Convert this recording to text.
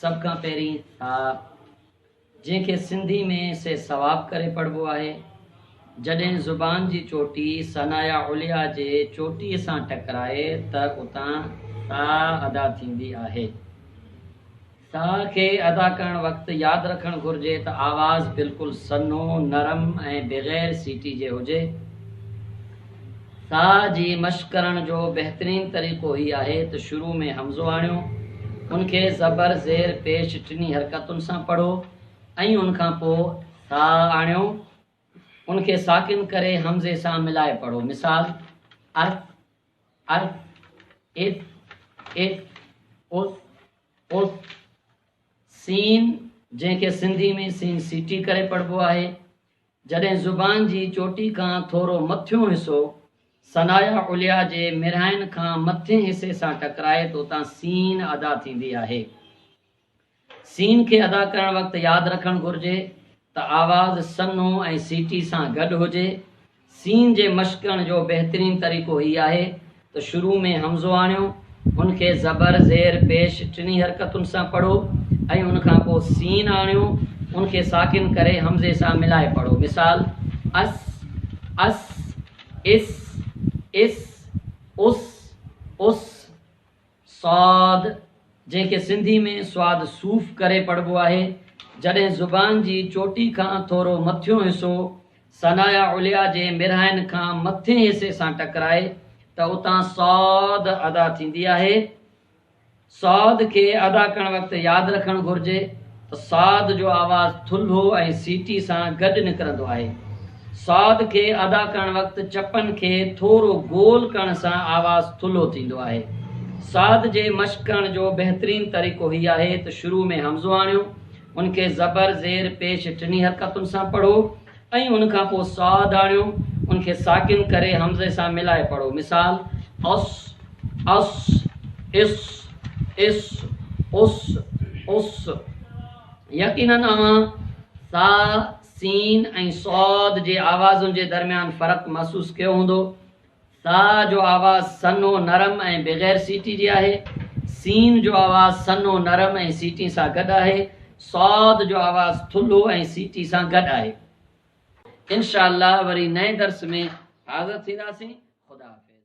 سڀ کان پهرين ٿاء، جنهن کي سنڌي ۾ سي ثواب ڪري پڙهبو آهي. جڏهن زبان جي چوٽي ثنايا عليا جي چوٽيء سان ٽڪرائي ته اتان ثاء ادا ٿيندي آهي. ثاء کي ادا ڪرڻ وقت ياد رکڻ گهرجي ته آواز بلڪل سنهو، نرم ۽ بغير سيٽي جي هجي. سا جي مشق ڪرڻ جو بهترين طريقو هي آهي ته شروع ۾ همزو آڻيو، ان کي زبر، زير، پيش ٽنهي حرڪتن سان پڙهو ۽ ان کان پوء سا آڻيو، ان کي ساڪن ڪري همزي سان ملائي پڙهو، مثال، اث، اث، اث، اٿ، اٿ، اٿ. سين، جنهن کي سنڌي ۾ سين سيٽي ڪري پڙهبو آهي، جڏهن زبان جي چوٽي کان ٿورو مٿيون حصو ثنايا عليا جي مرهائن کان مٿين حصي سان ٽڪرائي ته اتان سين ادا ٿيندي آهي. سين کي ادا ڪرڻ وقت ياد رکڻ گهرجي ته آواز سنهو ۽ سيٽي سان گڏ هجي. سين جي مشقڻ جو بهترين طريقو هي آهي ته شروع ۾ همزو آڻيو، ان کي زبر، زير، پيش ٽنهي حرڪتن سان پڙهو ۽ ان کان پوء سين آڻيو، ان کي ساڪن ڪري همزي سان ملائي پڙهو. مثال، اس، عس، عس، اس، اس، اس. صاد، جنهن کي سنڌي ۾ سواد صوف ڪري پڙهبو آهي، جڏهن زبان جي چوٽي کان ٿورو مٿيون حصو ثنايا عليا جي مرهائن کان مٿين حصي سان ٽڪرائي ته اتان صاد ادا ٿيندي آهي. صاد کي ادا ڪرڻ وقت ياد رکڻ گهرجي. ته ساڌ جو آواز ٿلهو ۽ سيٽي سان گڏ نڪرندو آهي. ساڌ کي ادا ڪرڻ وقت چپن کي ٿورو گول ڪرڻ سان آواز ٿلهو ٿيندو آهي. ساڌ جي مشق ڪرڻ جو بهترين طريقو هي آهي ته شروع ۾ همزو آڻيو، ان کي زبر، زير، پيش ٽنهي حرڪتن سان پڙهو ۽ ان کان پوء ساهه ڌاڻيو، ان کي ساڪن ڪري همزي سان ملائي پڙهو، مثال، اس، اص، اس، اس، اس، اس. يقينن اوهان سا، سين ۽ صاد جي آوازن جي درميان فرق محسوس ڪيو هوندو. ساء جو آواز سنهو، نرم ۽ بغير سيٽي جي آهي. سين جو آواز سنهو، نرم ۽ سيٽين سان گڏ آهي. صاد جو آواز ٿلهو ۽ سيٽي سان گڏ آهي. انشاء الله وري نئين درس ۾ حاضر ٿينداسين. خدا حافظ.